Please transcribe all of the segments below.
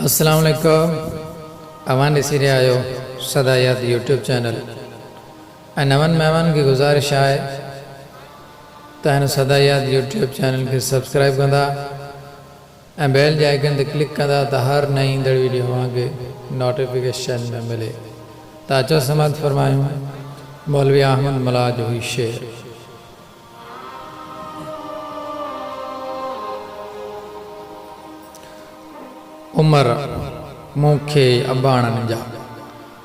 السلام عليڪم اوهان ڏسي رهيا آهيو سدا ياد يوٽيوب چينل ۽ نون مهمانن کي گذارش آهي ته هن سدا ياد يوٽيوب چينل کي سبسڪرائب ڪندا ۽ بيل جي آئيڪن تي ڪلڪ ڪندا ته هر نئين ايندڙ ويڊيو اوهان کي نوٽيفڪيشن ۾ ملي ته اچو سماعت فرمايون مولوي احمد ملاح جو هي شعر. عمر مون کي اباڻن جا.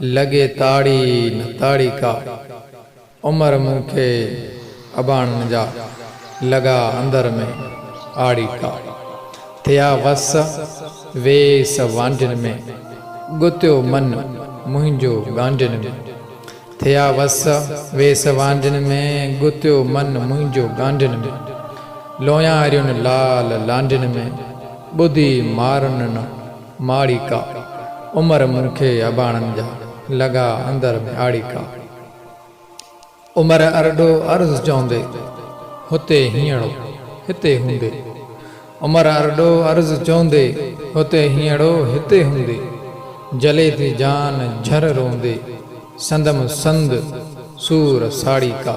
لڳي تاڙي نه تاڙي ڪا، عمر مون کي اباڻن جا، لڳا اندر ۾ آڙي ڪا. ٿيا وس ويس وانڍين ۾، ڳتيو من منهنجو ڳانڍين ۾. ٿيا وس ويس وانڍين ۾، ڳتيو من منهنجو ڳانڍين ۾. لوياريون لال لانڍين ۾، ٻڌي مارن نه. ماڙيڪا، عمر مون کي اباڻن جا، لڳا اندر ۾ آڙيڪا. عمر ارڏو عرض چوندي، هتي هينئڙو، هتي هوندي. عمر ارڏو عرض چوندي، هتي هينئڙو، هتي هوندي. جلي ٿي جان جھر روندي، سندم سند سور ساڙيڪا.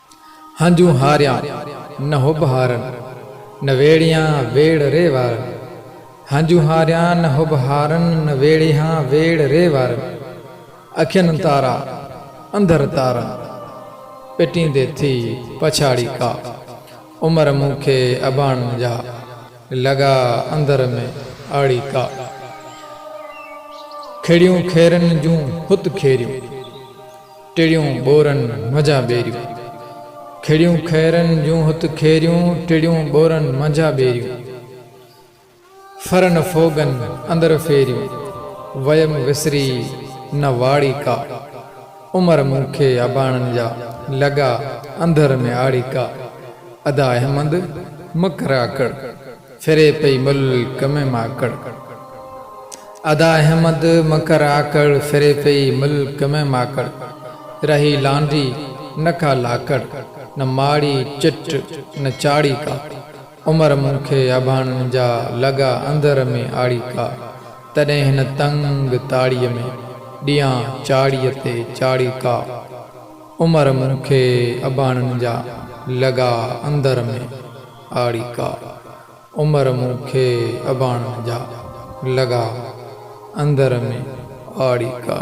هنجون هاريان نه حب هارن، نه ويڙهيان ويڙهه ري وارن. هنجون هاريان نه حب هارن، نه ويڙهيان ويڙهه ري وارن. اکين تارا انڌر تارن، پٽيندي ٿي پڇاڙي ڪا. عمر مون کي اباڻن جا، لڳا انڌر ۾ آڙي ڪا. کيڙيون کيرن جون هت کيريون، ٽڙيون ٻورن منجهان ٻيريون. کڙيون خيرن جون هت کيريون ٽڙيون ٻورن منجهان ٻيريون. ڦرن ڦوڳن اندر ڦيريون ويم وسري نه واڙي ڪا. عمر مون کي اباڻن جا لڳا انڌر ۾ آڙي ڪا. ادا احمد مڪراڪڙ. ڦري پئي ملڪ ۾ ماڪڙ. ادا احمد مڪر آڪڙ ڦري پئي ملڪ ۾ ماڪڙ رهي لانڍي نه ڪا لاڪڙ نه ماڙي چٽ نه چاڙهي ڪا عمر مون کي اڀاڻن جا لڳا اندر ۾ آڙي ڪا تڏهن هن تنگ تاڙي ۾ ڏيان چاڙهي تي چاڙهي ڪا عمر مون کي اڀاڻن جا لڳا اندر ۾ آڙي ڪا عمر مون کي اباڻن جا لڳا اندر ۾، آڙي ڪا.